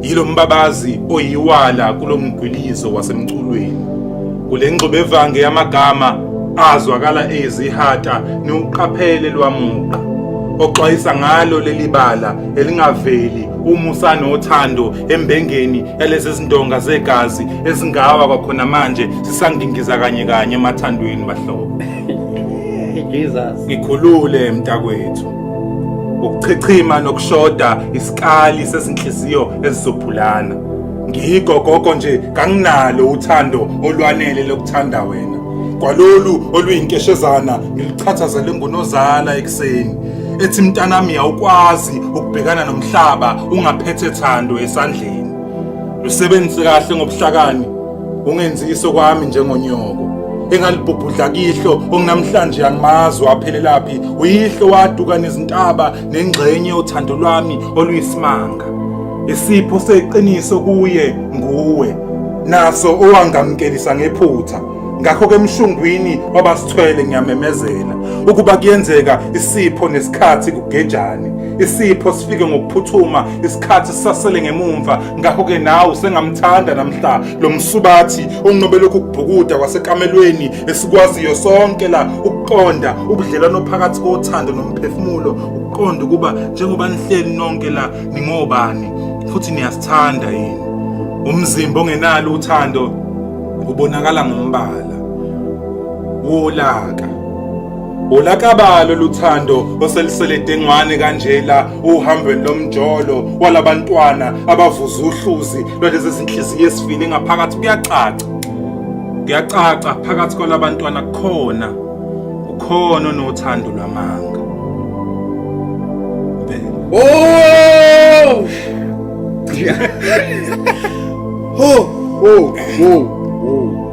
Yilo mbabazi oyiwala kulo mgwilizo wasemculweni. Kule ngxubevange yamagama azwakala ezihata niwuqaphele lwamuqa oxwayisa ngalo leli bala elingaveli umusa nothando embengeni yalezi zindonga zegazi ezingawa kwakhona manje sisangingiza kanye kanye emathandweni bahlobo Jesus ngikhulule mntakwethu ukuchichima nokushoda isikali sezinhliziyo ezizophulana ngikho gogo nje kanginalo uthando olwanele lokuthanda wena kwalolu oluyinkeshezana ngiluchathazele ngunozala ekuseni ethi mntanami awukwazi ukubhekana nomhlaba ungaphethe thando esandleni lusebenzise kahle ngobuhlakani ungenzi iso kwami njengonyoko engalibhubhudla kihlo onginamhlanje angimazi waphelelaphi uyihlo waduka nezintaba nengxenye yothando lwami oluyisimanga isipho seqiniso kuye nguwe naso owangamkelisa ngephutha ngakho ke mshungwini wabasithwele ngiyamemezela ukuba kuyenzeka isipho nesikhathi kugejane isipho sifike ngokuphuthuma isikhathi sisasele ngemumva ngakho-ke nawe usengamthanda namhla lo msubathi onqobelokhu ukubhukuda kwasekamelweni esikwaziyo sonke la ukuqonda ubudlelwano phakathi kothando nomphefumulo ukuqonda ukuba njengoba nihleli nonke la ningobani futhi niyasithanda yini umzimba ongenalo uthando ubonakala ngombala wolaka Ulakabalo luthando oselisele dengwane kanjela uhambweni lomjolo walabantwana abavuza uhluzi lwalezi zinhliziyo esifile ngaphakathi kuyacaca kuyacaca phakathi kwalabantwana kukhona ukhona onothando lwamanga Oh! oh! Oh! Oh!